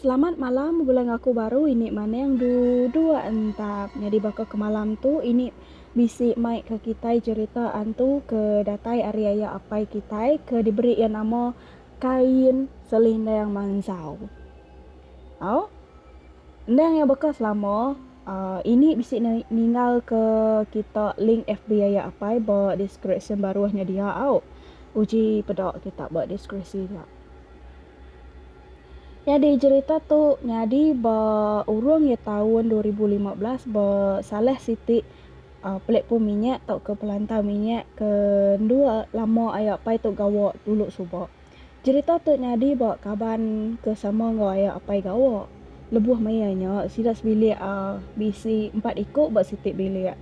Selamat malam bala ngaku baru ini maneng duduk entap nyadi baka ke malam tu ini bisi mai ke kitai cerita antu ke datai ari aya apai kitai ke diberi iya nama Kain Selindang Mansau. Au. Endang iya baka selama ini bisi ne ninggalka kita link FB iya apai ba deskripsyen baruh nya dia au. Uji peda kita ba deskripsi nya. Nyadi jerita tu nyadi ba urung iya taun dua ribu lima belas ba salah siti platform minyak tauka pelantau minyak ke endua lama ayo apai tu gawa dulu suba. Jerita tu nyadi ba kaban ke sama enggau aya apai gawa. Lebuh maya nya, sida sebilik uhh bisi empat iku ba siti bilik.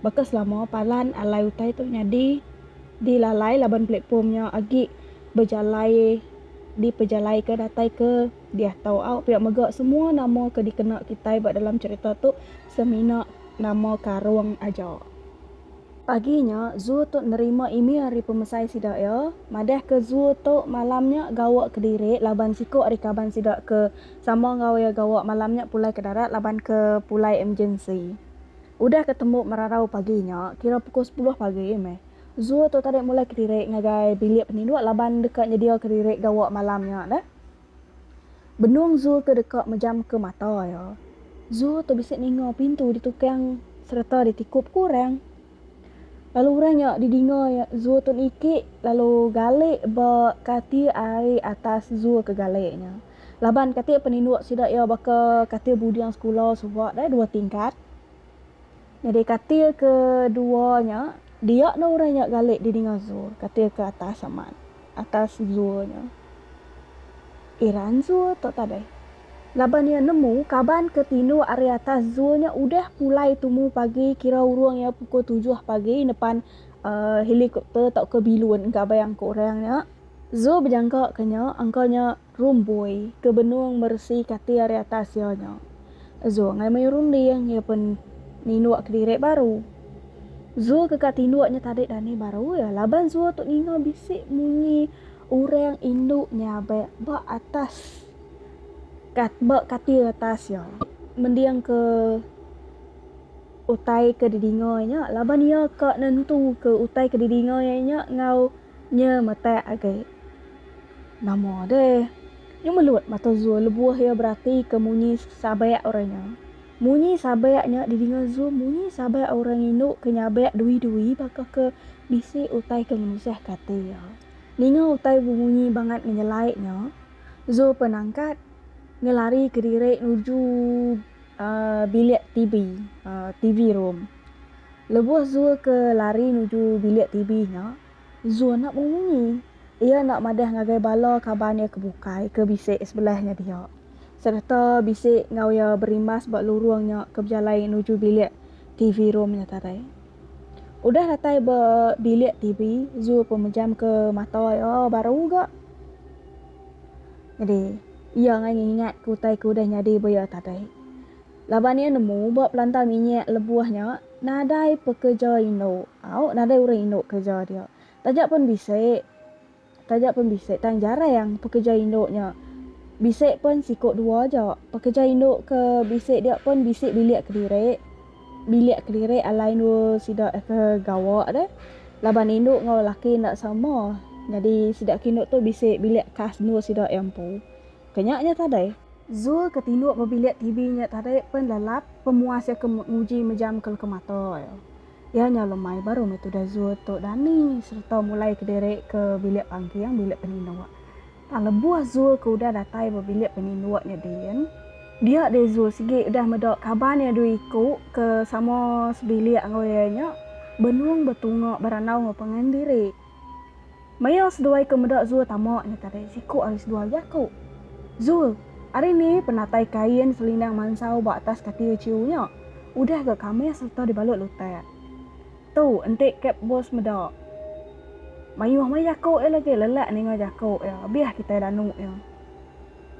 Baka selama, palan alai utai tu nyadi dilalai laban platform nya agi bejalai dipejalaika datai ke diah tau. Au pia mega semua nama ke dikena kitai ba dalam jerita tu semina nama karung aja. Pagi nya, Zhu tu nerima email ari pemesai sida iya madah ke Zhu tu malam nya gawa kediri laban siku ari kaban sida ke sama enggau iya gawa malam nya pulai ke darat laban ke pulai emergensi. Udah ke tembu merarau pagi nya, kira pukul sepuluh pagi meh, Zhu tu tadi mulai kediri ngagai bilik peninduk laban deka nyedia kediri gawa malam nya dah. Benung Zul tu deka mejamka mata iya. Zul tu bisi ninga pintu ditukang sereta ditikup ku orang. Lalu orang nya didinga iya Zul tu niki lalu galik ba katil ari atas Zul ke galik nya. Laban katil peninduk sida iya baka katil buding sekula suba deh dua tingkat. Nyadi katil ke dua nya, dia enda orang nya galik dini ngazur katil ke atas amat, atas zur nya. Iran zur tu tadai. Laban iya nemu kaban ke tinduk ari atas zur nya udah pulai tumu pagi kira urung iya pukul tujuh pagi nepan helikopter tauka bilun engka bayang ke orang nya. Zur bejangka ke nya angka nya. Rumboi ke benung meresi kati ari atas iya nya. Zul ngai mayuh runding iya pen ninduk kediri baru. Zul ke ka tinduk nya tadi dani baru iya laban Zul tu ninga bisi munyi urang indu nyabak ba atas ka ba kati atas iya. Mending ke utai ke didinga iya nya laban iya ka nentu ke utai ke didinga iya nya enggau. Nya metak agi. Nama deh. Nya melut mata Zul lebuh iya beratika munyi sabak orang nya. Munyi sabak nya didinga Zul munyi sabak orang indu ke nyabak dui-dui baka ke bisi utai ke ngenusahka ati iya. Ninga utai bemunyi bangat ngenyelai nya, Zul penangkat ngelarika diri nuju bilik TV, TV room. Lebuh Zul ke lari nuju bilik TV nya, Zul enda bemunyi. Iya enda madah ngagai bala kaban iya ke bukai ke bisi sebelah enggau dia sereta bisi enggau iya berimbas ba lurung nya ke bejalai nuju bilik TV room nya tadai. Udah datai ba bilik TV, Zul pun mejamka mata iya baru ga. Nyadi, iya angai ngingat ke utai ke udah nyadi ba iya tadi. Laban iya nemu ba pelantang minyak lebuh nya, nadai pekereja indu au nadai orang indu kereja dia. Taja pen bisi, taja pen bisi tang jarang pekereja indu nya. Bisi pen siku dua aja. Pekereja indu ke bisi dia pen bisi bilik kediri. Bilik kelirik alai endur sida ke gawa deh laban indu enggau laki enda sama nyadi sida ke indu tu bisi bilik khas endur sida iya empu. Ke nya nyah tadai. Zul ke tinduk ba bilik TV nya tadai pen lelap pemuas iya ke nguji mejamka leka mata iya. Iya nyau lemai baru meh tudah Zul tu dani sereta mulai kediri ke bilik pangking, bilik peninduk. Tang lebuh Zul ke udah datai ba bilik peninduk nya din, dia deh Zul sigi udah meda kaban iya dua iku ke sama sebilik enggau iya nya benung betunga berandau enggau pangan diri. Maya seduai ke meda Zul tama nya tadi siku ari seduai iya ku, Zul, ari ni penatai kain selindang mansau ba atas katil chiu nya udah ga kamis sereta dibalut lutak. Tu enti kep bos meda. Mayuh meh jaku iya lagi lelak ninga jaku iya abih kitai danu iya.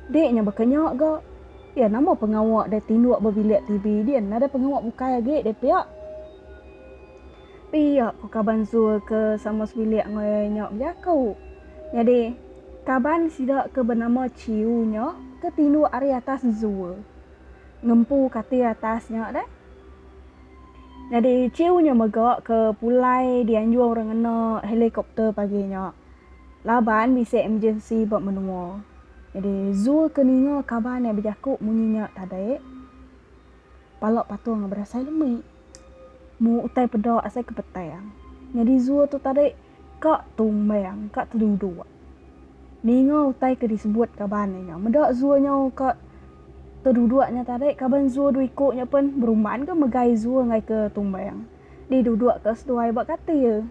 Dik nya baka nya ga iya nama pengawa deh tinduk ba bilik TV din nadai pengawa bukai agi deh pia. Pia ku kaban Zul ke sama sebilik enggau iya nya bejaku. Nyadi kaban sida ke benama Chiu nya ke tinduk ari atas Zul. Ngempu katil atas nya deh. Nyadi chiu nya mega ke pulai dianjung orang ngena helikopter pagi nya laban bisi emergency ba menua. Nyadi Zul ke ninga kaban iya bejaku munyi nya tadi, pala patung berasai lemi. Mu utai peda asai ke petang. Nyadi Zul tu tadi. Ka tumbang, ka teduduk. Ninga utai ke disebut kaban nya nya. Meda zua nya ka teduduk nya tadi, kaban zua dua iku nya pen berumban ke megai zua ngai ke tumbang. Di duduk ka seduai ba katil.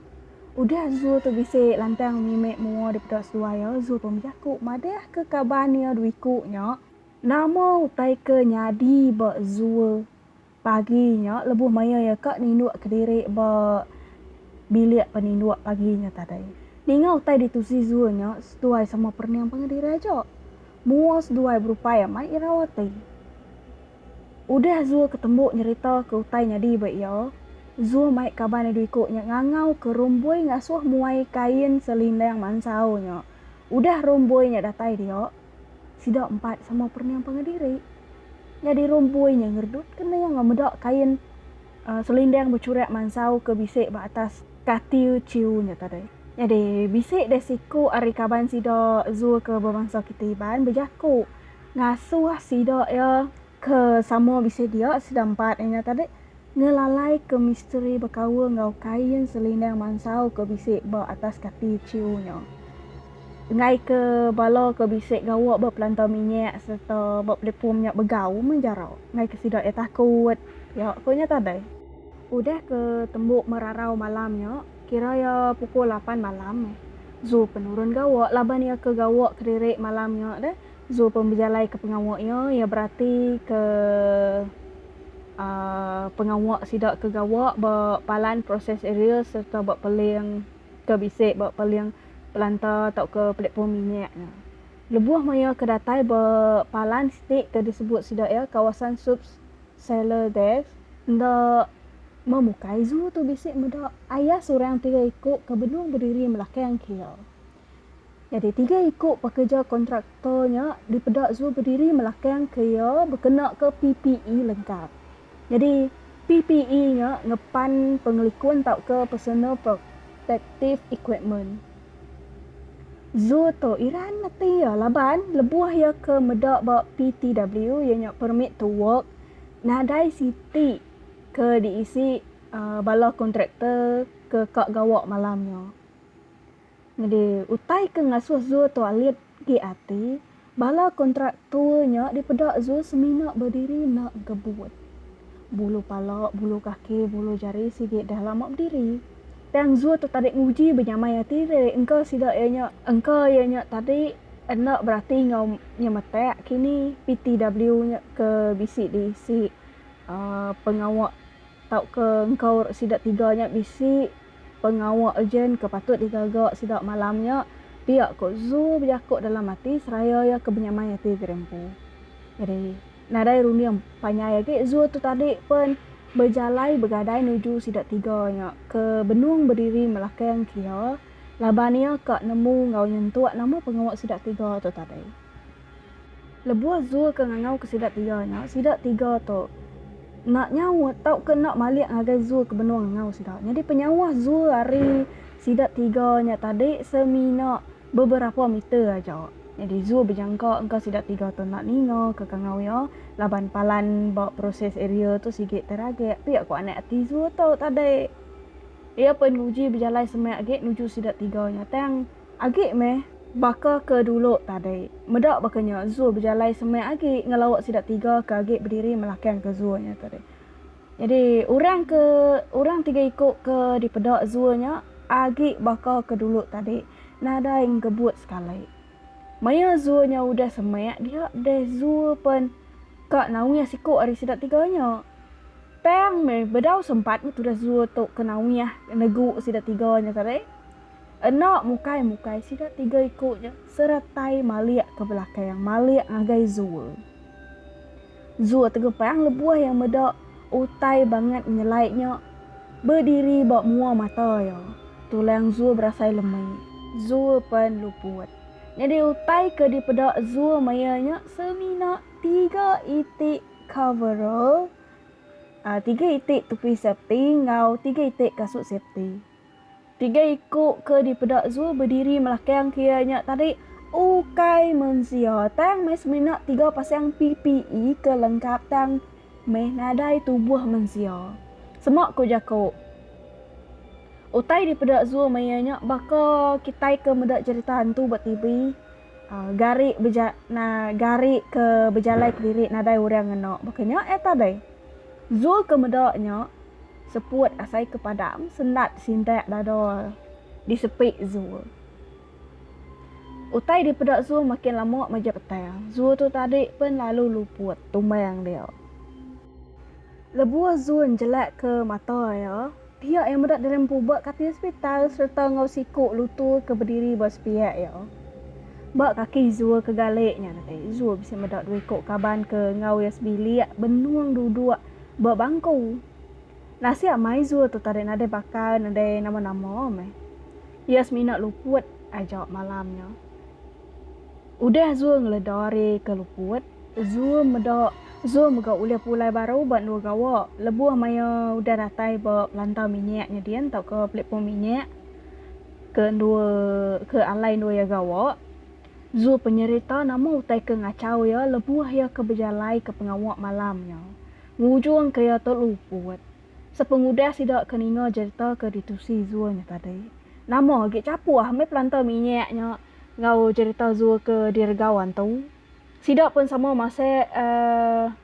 Udah zua tu bisi lantang mimit mua dipeda seduai iya, zua pun bejaku madah ke kaban iya dua iku nya, nama utai ke nyadi ba zua Pagi nya lebuh maya iya ka ninduk kediri ba bilik peninduk pagi nya tadi, ninga utai ditu Zizur nya seduai sama perening pengediri aja. Mua seduai berupai amat irau ati. Udah Zur ketembu nyeritaka utai nyadi ba iya, Zur mai kaban adu iku nya ngangauka Rumbui ngasuh muai kain selindang mansau nya. Udah Rumbui nya datai dia, Sida empat sama perniang pangan diri. Nyadi rumpui nya ngeredut kena enggau meda kain uh, selindang becurak mansau ke bisi ba atas katiu ciu nya tadi. Nyadi bisi deh siku ari kaban sida Zul ke bemansa Kita Iban bejaku ngasuh sida iya Ke sama bisi dia sida empat nya tadi ngelalaika misteri bekaul enggau kain selindang mansau ke bisi ba atas kati chiu nya. Enggaika bala ke bisi gawa ba pelantau minyak sereta ba platform nya begau meh jara enggaika sida iya takut, iya ku nya tadi. Udah ke tembu merarau malam nya, kira iya pukul lapan malam meh, Zul penurun gawa laban iya ke gawa kediri malam nya deh. Zul pun bejalai ke pengawa iya, iya berati ke pengawa sida ke gawa ba palan proses aerial sereta ba peling ke bisi ba peling pelanta tauka platform minyak nya. Lebuh maya ke datai ba palan siti ke disebut sida iya kawasan Subs Sailor Desk, enda memukai Zul tu bisi meda ayas orang tiga iku ke benung bediri melakang ke iya. Nyadi tiga iku pekereja kontraktor nya dipeda Zul bediri melakang ke iya bekenaka PPE lengkap. Nyadi PPE nya ngepan pengelikun tauka personal protective equipment. Zul tu iran ati iya laban lebuh iya ke meda ba PTW iya nya permit to work nadai siti ke diisi bala kontraktor ke ka gawa malam nya. Nyadi, utai ke ngasuh Zul tu alit agi ati, bala kontraktor nya dipeda Zul semina bediri enda ngebut. Bulu pala, bulu kaki, bulu jari sigi deh lama bediri. Tang Zul tu tadi nguji benyamai ati diri engka sida iya nya. Engka iya nya tadi enda berati enggau nyemetak kini PTW nya ke bisi diisi pengawa tauka engkaur sida tiga nya bisi. Pengawa urgent ke patut digaga sida malam nya, pia ku Zhu bejaku dalam ati seraya iya ke benyamai ati gerempu. Nyadi, nadai runding panjai agi Zhu tu tadi pen bejalai begadai nuju sida tiga nya ke benung bediri melakang ke iya laban iya ka nemu enggau nyentuk nama pengawa sida tiga tu tadi. Lebuh Zul ke ngangau ke sida tiga nya, sida tiga tu enda nyaut tauka enda malik ngagai Zul ke benung ngangau sida. Nyadi penyauh Zul ari sida tiga nya tadi semina beberapa meter aja. Nyadi Zul bejangka engka sida tiga tu enda ninga ke kangau iya laban palan ba proses area tu sigi teragik. Pia ku anak ati Zul tu tadi. Iya pen nguji bejalai semak agi nuju sida tiga nya tang. Agi meh baka ke dulu tadi. Meda baka nya, zoo bejalai semeh agi ngelauk sida tiga ke agi bediri melakangka zoo nya tadi. Nyadi, orang ke orang tiga iku ke dipeda zoo nya agi baka ke dulu tadi, nadai enggebut sekali. Maya zoo nya udah semeh dia deh zoo pen ka nawih siku ari sida tiga nya. Tang meh bedau sempat meh tudah zoo tu ke nawih negu sida tiga nya tadi. Enda mukai-mukai sida tiga iku nya seretai malik ke belakang, malik ngagai Zul. Zul tegepang lebuh iya meda utai bangat nyelai nya bediri ba mua mata iya. Tulang Zul berasai lemi. Zul pen luput. Nyadi utai ke dipeda Zul maya nya semina tiga iti coverall, tiga iti tupi safety enggau tiga iti kasut safety. Tiga iku ke dipeda Zul bediri melakang ke iya nya tadi ukai mensia tang meh semina tiga pasang PPE ke lengkap tang meh nadai tubuh mensia. Sema ku jaku utai dipeda Zul maya nya baka kitai ke meda cherita hantu ba TV. Gari beja na gari ke bejalai kediri nadai orang ngena baka nya eh tadai. Zul ke meda nya seput asai ke padang sendat sindak dada di sepi Zul. Utai di peda Zul makin lama maja petang. Zul tu tadi pen lalu luput tumbang dia. Lebuh Zul njelak ke mata iya. Pia iya meda diri mpuba katil hospital sereta enggau siku lutu ke bediri ba sepiak iya. Ba kaki Zul ke galik nya datai, Zul bisi meda dua iku kaban ke enggau iya sebilik benung duduk ba bangku. Nasit amai Zul tu tadi nadai bakal nadai nama-nama meh. Iya semina luput aja malam nya. Udah Zul ngeleda ari ke luput, Zul meda Zul mega ulih pulai baru ba endur gawa lebuh maya udah datai ba pelantau minyak nya din tauka pelipum minyak ke endur ke alai endur iya gawa. Zul penyerita nama utai ke ngachau iya lebuh iya ke bejalaika pengawa malam nya ngujungka iya tu luput. Sepengudah sida ke ninga jerita ke ditusi Zul nya tadi, nama agi chapuh meh pelantau minyak nya enggau jerita Zul ke diregawan tu. Sida pun sama masek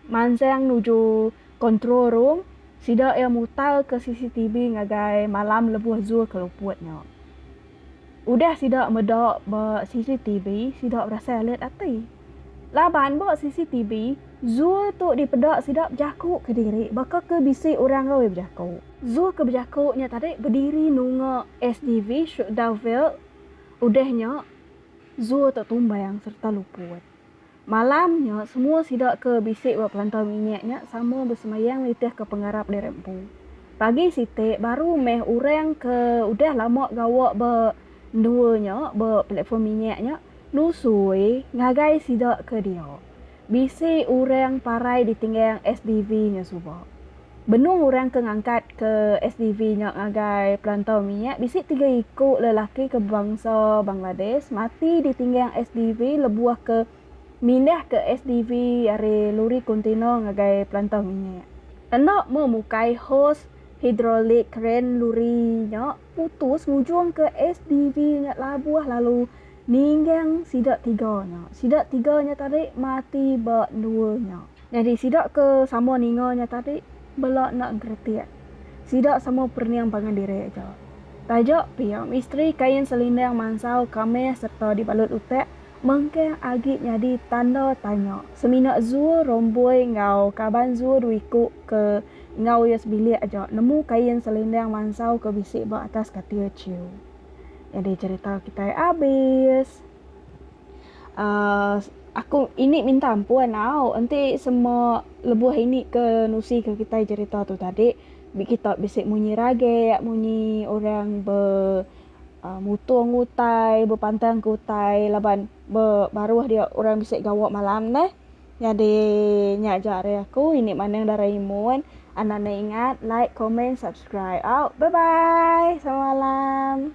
mansang nuju control room, sida iya mutarka CCTV ngagai malam lebuh Zul ke luput nya. Udah sida meda ba CCTV, sida berasai alert ati. Laban ba CCTV, Zul tu dipeda sida bejaku kediri baka ke bisi orang roi bejaku. Zul ke bejaku nya tadi bediri nunga SDV Shuqdaville udah nya Zul tak tumbang sereta luput. Malam nya, semua sida ke bisi ba pelantau minyak nya sama besemayang nitihka pengarap diri empu. Pagi siti, baru meh orang ke udah lama gawa ba endua nya, ba platform minyak nya, nusui ngagai sida ke dia. Bisi orang parai ditinggang SDV nya suba. Benung orang ke ngangkatka SDV nya ngagai perantau mia, bisi tiga iku lelaki ke bangsa Bangladesh mati ditinggang SDV lebuh ke mindahka SDV ari luri kontena ngagai perantau mia. Enda meh mukai hos hidrolik kren luri nya putus ngujungka SDV nya labuh lalu Ninggang sida tiga nya. Sida tiga nya tadi mati ba endua nya. Nyadi sida ke sama ninga nya tadi bela enda geretik. Sida sama perening pangan diri aja. Taja pia misteri kain selindang mansau kamih sereta dibalut utak mengkang agi nyadi tanda tanya semina Zul Romboi enggau kaban Zul Duiku ke enggau iya sebilik aja nemu kain selindang mansau ke bisi ba atas katil Chiu. Jadi cerita kitai abis. Uh, aku ini minta ampun au. Enti semua lebuh ini ke nusi ke kitai cerita tu tadi. Bi kita bisi munyi rage, munyi orang be uh, mutung utai, bepantang ke utai. Laban be baruh dia orang bisi gawa malam neh. Nyadi nya ja ari aku ini maneng Doraemon anak ne ingat like comment subscribe au bye bye semalam.